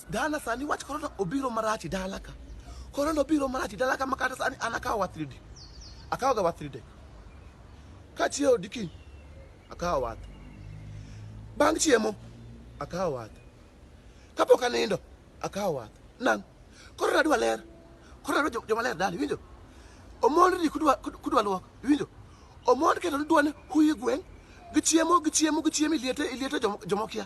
Dala sani wach korona obiro marach dala ka. Korona obiro marach dala ka makata sani an akawo wath ridi. Akawo ga wath ridi. Ka chiewo diki akawo wath. Bang' chiemo akawo wath. Kapok anindo akawo wath. Nang' korona adwa ler. Korona adwa joma ler dala iwinjo? Omond ni kudwa kudwa luok iwinjo? Omond keto ni dwani huyi gweng' gichiemo gichiemo gichiemo iliete iliete jomok jomok ya.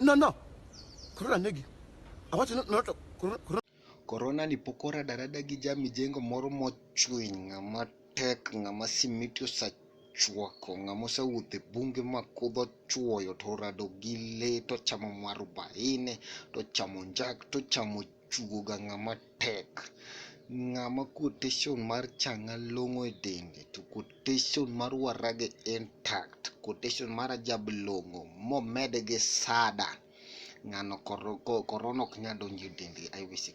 No, no. Corona negi. Awacho no, no, to corona, corona. Corona ni pok oradarada gi ja mijengo moro mochwiny ng'ama tek ng'ama simiti osachwako ng'ama osewuotho e bunge ma kudho chwoyo to orado gi lee tochamo mwarubaine tochamo njak tochamo tugoga ng'ama tek. Ng'ama quotation mar chang'a long'o e dende to quotation mar warage intact, quotation mar ajab long'o momed gi sada. Ng'ano korona ok nyal donjo e dende. I wish you